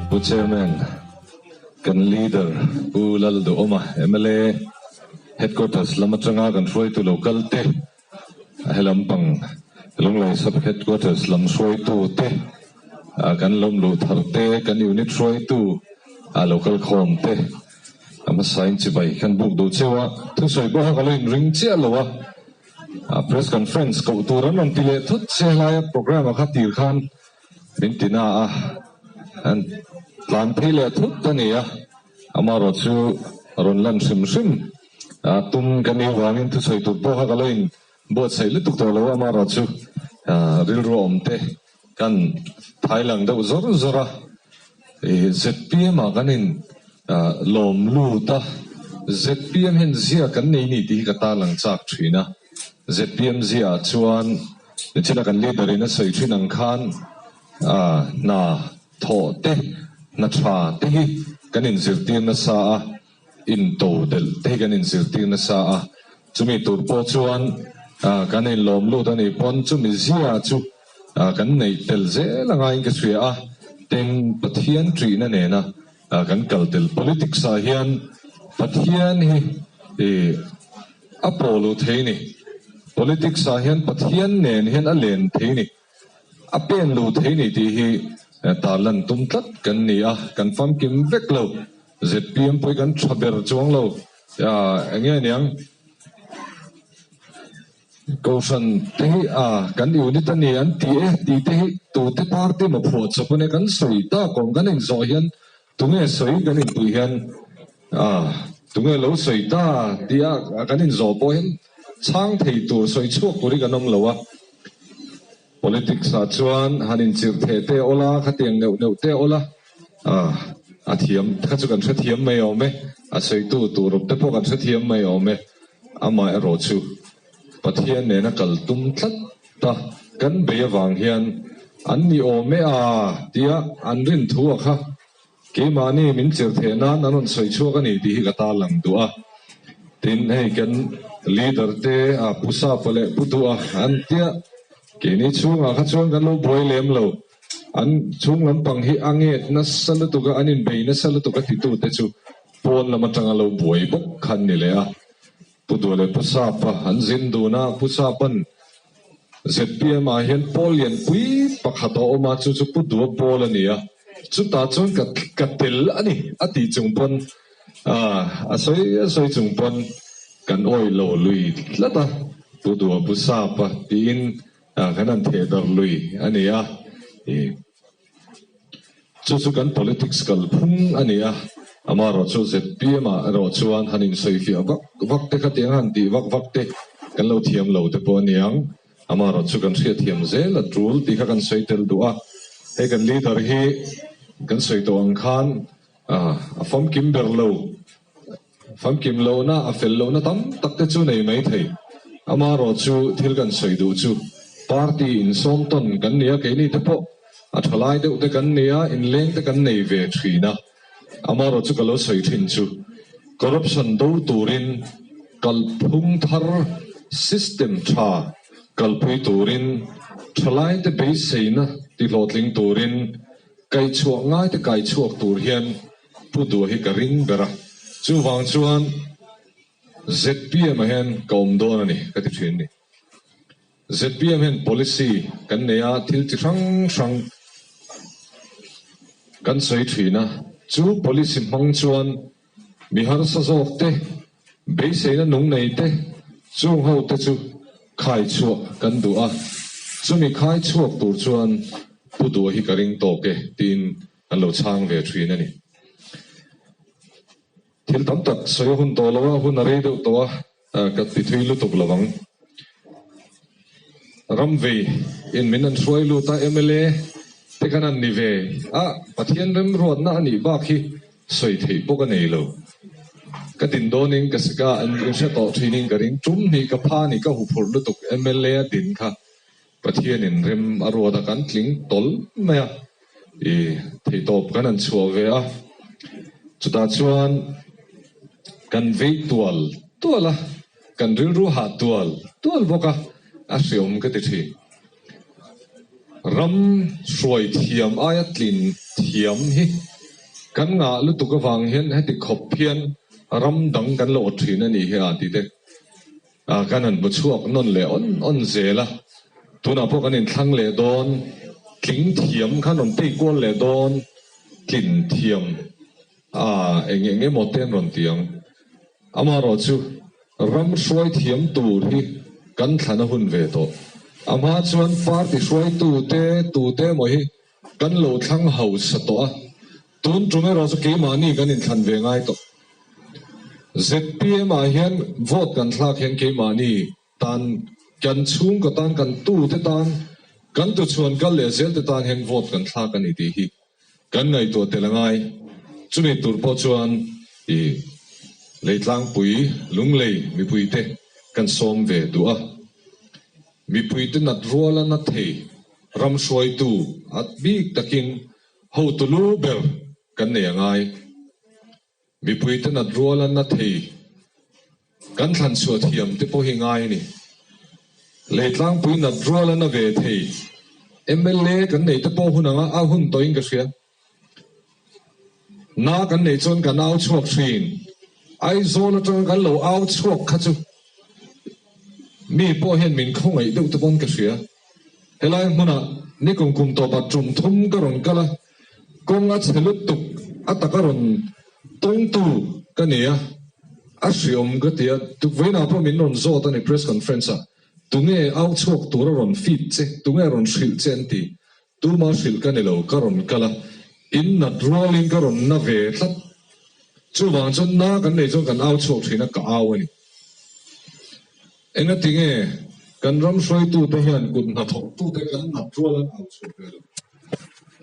Pu Chairman, kan Leader Pu Lal Duhawma, mla Headquarters lam atanga kan hruaitu lo kalte, a helam pang Lunglei Sub Headquarters lam hruaitu te, kan lawmluh thar te, kan unit hruaitu a lo kal khawm te, a hmasain chibai kan buk duh cheu a, thusawi pawh a ka lo inring chiah lo a, Press Conference koh tur an rawn ti leh thut che a hlai a, Programme a kha tir khan, min ti na a an tlan phei leh thut a ni a, amarawh chu a rawn lan hrim hrim a, tum ka ni avangin thusawi tur pawh kha ka lo in buatsaih lutuk tawh lo a, amarawh chu rilru awm te kan phai lang deuh zawr zawr a, zpm ah kan in lawm lut a, zpm hian ziak kan nei ni tih hi ka tarlang chak thin a, zpm ziah ah chuan. Nichina kan leader in a sawi thin ang khan hna thawh te, hna tha te hi kan in zirtir nasa a, in to delh te hi kan in zirtir nasa a, chumi tur pawh chuan kan in lawm lut a nih pawn chumi zia chu kan neih tel zel angai in ka hria a, tin Pathian tihna nena A kan kal tel politics ah hian Pathian hi i a pawl u thei ni, politics ah hian Pathian nen hian a len thei ni, a pen lu thei ni tih hi ta lan tum tlat kan ni a, kan famkim vek lo, zpm pawh hi kan tha ber chuang lo, enge niang? Kohhran te hi a kan unit a ni an ti e tih te hi tute party ma phuah chawp ania kan sawi tak awm kan in zawh hian tunge sawi kan in puih hian a tunge lo sawi ta tih a kan in zawh pawh hian chhang thei tur sawi chhuak tur hi kan awm lo a. Politics ah chuan han inchirh theh teh awl a, khatiang neuh neuh teh awl a, a thiam kha chu kan hrethiam mai awm e, a sawitu turup te pawh kan hrethiam mai awm e, amah erawh chu Pathian nen a kal tum tlat ta kan bei avang hian an ni awm e a tia an rin thu a kha. Keimahni min chirh theih nan an rawn sawi chhuak a ni tih hi ka ta lang duh a. Tin, hei kan leader te a pu sapa leh pu duha an tia keini chhungah kha chuan kan lo buai lem lo. An chhung lampang hi a ngek nasa lutuk a, an inbei nasa lutuk a titute chu pawn lam atanga lo buai bawk khan ni leh a. Pu Duh leh Pu Sapa an zin dun a, Pu Sapan zpm ah hian Pawl lianpui pakhat a awm a, chu chu Pu Dua Pawl a ni a, chutah chuan ka ka tel a ni a tih chung pawn ah a sawi a sawi chung pawn kan awi lo lui tlat a, Pu Dua Pu Sapa tiin kan han theh dar lui a ni a. Chu chu kan politics kal phung a ni a, amaherawh chu zpm ah erawh chuan han insawi fiah vak vak te khatiang a han tih vak vak te kan lo thiam lo te pawh a niang, amaherawh chu kan hriatthiam zel a tul tih kha kan sawi tel duh a, hei kan leader hi kan sawi tawh ang khan a famkim ber lo. Famkim lohna a fel lohna tam tak te chu nei mai thei. Amarawh chu thil kan sawi duh chu party in sawm tawn kan ni a, keini te pawh a thalai deuh te kan ni a, inleng te kan nei ve thin a. Amarawh chu ka lo sawi thin chu corruption do turin kalphung thar system tha kalpui turin thalai te beiseina tihlawhtling turin kaichhuah ngai te kaichhuak tur hian, Pu Duh hi ka ring ber a, chuvang chuan zpm ah hian ka awm dawn a ni ka ti thin ni. Zpm hian policy kan nei a, thil chi hrang hrang kan sawi thin a, chu policy hmang chuan mi harsa zawk te, beiseina nung nei te, chung ho te chu khai chhuah kan duh a, chumi khai chhuak tur chuan Pu Duh hi ka ring tawk e, tiin An lo chhang ve thin a ni. Thil tam tak sawi a hun tawh lo a, hun a rei deuh tawh a, ka ti thui lutuk lo vang. Ram vei in min an hruai lut a, mla te kan an ni ve a, Pathian remruatna a nih bak hi sawi theih bawk a nei lo. Ka din dawn in ka sik a, an inhre tawh thin in ka ring tum hnih ka pha a ni, ka huphurh lutuk mla a din kha. Pathianin rem a ruat a kan tling tawlh mai a, i theihtawp kan han chhuah ve a, chutah chuan kan vei tual tual a, kan rilru hah tual tual bawk a, a hreawm ka ti thin. Ram hruai thiam aia tlin thiam hi kan ngah lutuk avang hian heti khawp hian ram dang kan lawh thin a ni hi a, tite. Kan han hmu chhuak nawn leh awn awn zel a, tunah pawh kan inthlang leh dawn, tling thiam khan rawn tei kual leh dawn, tlin thiam a eng eng emaw te an rawn ti ang. Amaherawh chu ram hruai thiam tur hi kan thlan a hun ve tawh. Amha chuan party hruaitute tute emaw hi Kan lo thlang hausa tawh a, tun tum erawh chu keimahni kan inthlan ve ngai tawh. ZPM-ah hian vote kan thlak hian keimahni tan kan chhungkaw tan, kan tute tan, kan tuchhuan kal leh zelte tan hian vote kan thlak a ni tih hi kan ngaihtuah tel a ngai. Chumi tur pawh chuan i Leitlangpui, Lunglei mipuite kan sawm ve duh a. Mipuite natruala na thei Ram hruaitu at bik takin hotu lu ber kan nei a ngai. Mipui ten at rual an na thei kan thlan chhuah thiam te pawh hi ngai ni. Lei tlangpuiin at rual an na ve thei. Mla kan nei te pawh hun anga a hun tawh in ka hria. Na kan nei chuan kan au chhuak thin. Aizawl atanga kan lo au chhuak kha chu mi pawh hian min khawngaih deuh te pawh an ka hria. Helai hmunah ni kum kum tawpah tum thum ka rawn kal a, kawng a chhe lutuk a taka rawn tawng tu ka ni a, a hriawm ka ti a, tukverhna pawh min rawn zawt a ni press conference-ah tunge au chhuak tura rawn fit che, tunge rawn hrilh che an ti. Tuma hrilh ka ni lo, ka rawn kal a, in nat rualin ka rawn na ve tlat. Chuvang chuan na kan nei chuan kan au chhuak thin a, ka au a ni. Engatinge kan ram hruaitute hian kut hnathawnhtute kan nat rual an au chhuak ve lo.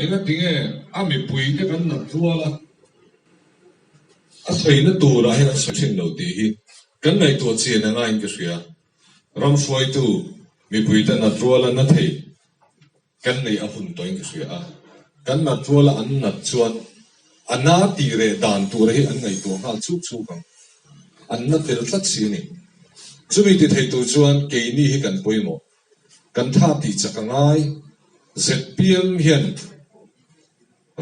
Engatinge a mipuite kan nat rual a, a saina turah hian an sawi thin lo tih hi kan ngaihtuah chian angain ka hria. Ram hruaitu mipuite nat rual a na thei Kan lei a hun tawi ni hria a, kan nat rual a an nat chuan a na tih reh dan tura hi an ngaihtuah nghal chuk chuk ang, an na tel tlat si a ni. Chumi ti thei tur chuan keini hi kan pawimawh, kan tha tih chak a ngai. Zep piam hian.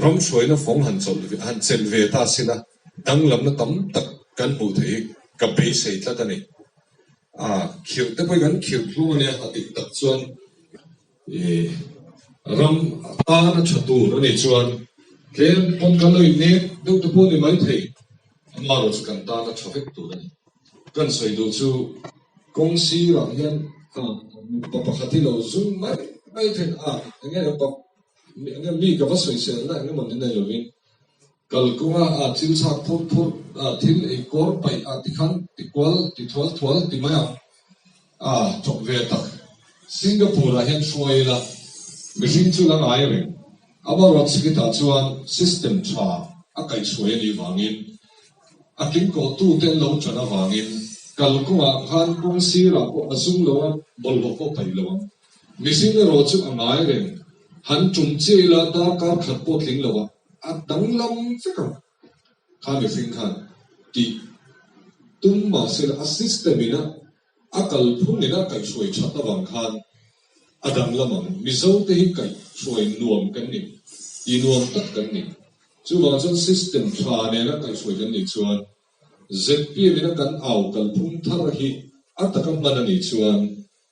Ram hruaina fawng han chawlh ve, han chelh ve ta sin a, danglamna tam tak kan hmuh theih hi ka beisei tlat a ni. Aah khirh te pawh hi kan khirh thlung a nia a dik tak chuan ih ram tan a tha tur a nih chuan tlem pawn ka lawi nek deuh te pawh a ni mai thei, amah erawh chu kan tan a tha vek tur a ni. Kan sawi duh chu kawng sirah hian mipa pakhat hi lo zum mai mai theih a, eng nge rawh ka Mi ka va sawisel na engemaw ni nei lovin kal kawnga a thil chhak phurh phurh a, thil ei kawr paih a tikhan ti kual ti thual thual ti mai ang a thawk ve tak. Singapore ah hian hruai ila mihring chu la ngai reng. Amarawt sikitah chuan system tha a kaih hruai a nih vangin a kim kawh tu te an lo tan avangin kal kawngah khan kawng sirah pawh a zum lo a, bawlhhlawh pawh paih lo ang. Mihring erawh chu a ngai reng. Han tum chiah ila dar kar khat pawh tling lo a, a danglam vek ang kha mihring khan ti tum mahsela a system ina a kalphung ina kaih hruai that avang khan a danglam ang. Mizo te hi kaih hruai nuam kan ni, ti nuam tak kan ni. Chuvang chuan system tha nena kaih hruai kan nih chuan zpm ina kan au kalphung thar hi a taka hman a nih chuan,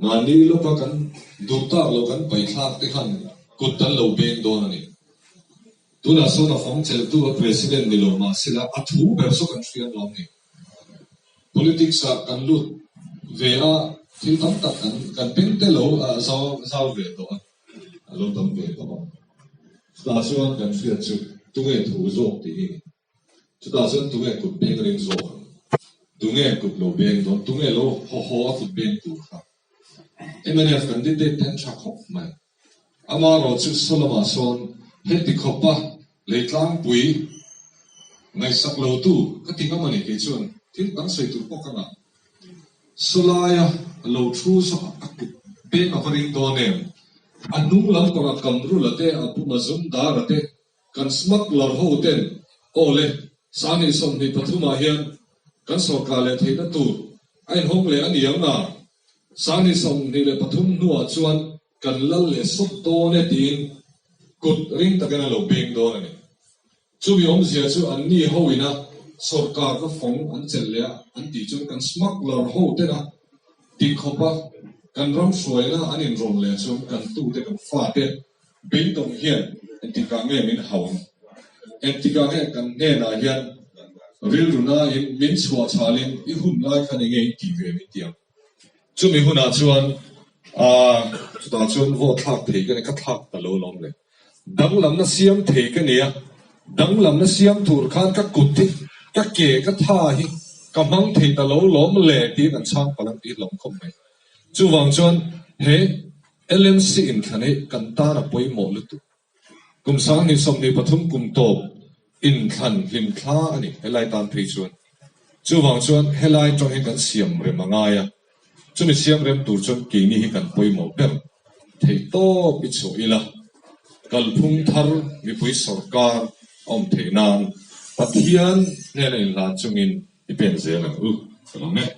Mahni lawka kan duh tak lo kan paithlak te khan kut kan lo beng dawn a ni. Tunah sawn a fam cheltu a President ni lo mah se la a thu ber saw kan hria nuam ni. Politics ah kan lut ve a thil tam tak kan kan peng te lo a zau ve tawh a, a lo tam ve tawh a. Chutah chuan kan hriat chu tunge thu zawk tih hi Chutah chuan tunge kut beng reng zawk ang? Tunge kut lo beng dawn? Tunge lo haw haw a kut beng tur kha? Mnf kan debate te an tha khawp mai. Ama rawh chu saw lamah sawn he ti khawpa lei tlangpui ngaihsak lo tu ka ti ngam a ni. Kei chuan thil kan sawi tur pawh ka ngah. Saw laia lo thu saw a kut beng a va ring dawn em? A hnunglam kawr a kamrul a te a buma zum dar a te. Kan smuggler ho ten aw le sangin sawmhnih pathumah hian kan sorkar leh theihna tur a inhawng leh a ni ang a, sangin sawmhnih leh pathum hnuah chuan kan lal leh sawt dawn e tiin kut ring takin an lo peng dawn a ni. Chumi awmzia chu anni ho ina sorkar ka fawng an chelh leh a an tih chuan kan smuggler ho tena ti khawpa kan ram hruaina an inrawm leh chuan kan tute kan fate, Bingtawng hian entikah nge min hau? Entikah nge kan hnenah hian rilru nain min chhuah chhalin i hun lai khan enge in tih ve min tiang? Chumi hunah chuan aah chutah chuan vaw thlak thei ka nia, ka thlak ta lo lawm le. Danglamna siam thei ka nia, danglamna siam tur khan ka kut hi, ka ke, ka tha hi ka hmang thei ta lo lawm le tiin an chhang palang tih hlawm khawp mai. Chuvang chuan he. LMC in thla neih kan tar a pawimawh lutuk. Kum Sangni sawmhnih pathum kum tawp in thlan hlim thla a ni helai tan phei chuan. Chuvang chuan helai tang hi kan siam rem a ngai a, chumi siam rem tur chuan keini hi kan pawimawh ber thei tawp i chhuah ila. Kalphung thar mipui sorkar a awm theih nan Pathian hnena inhlan chungin i pen zel ang u. Ka la meh.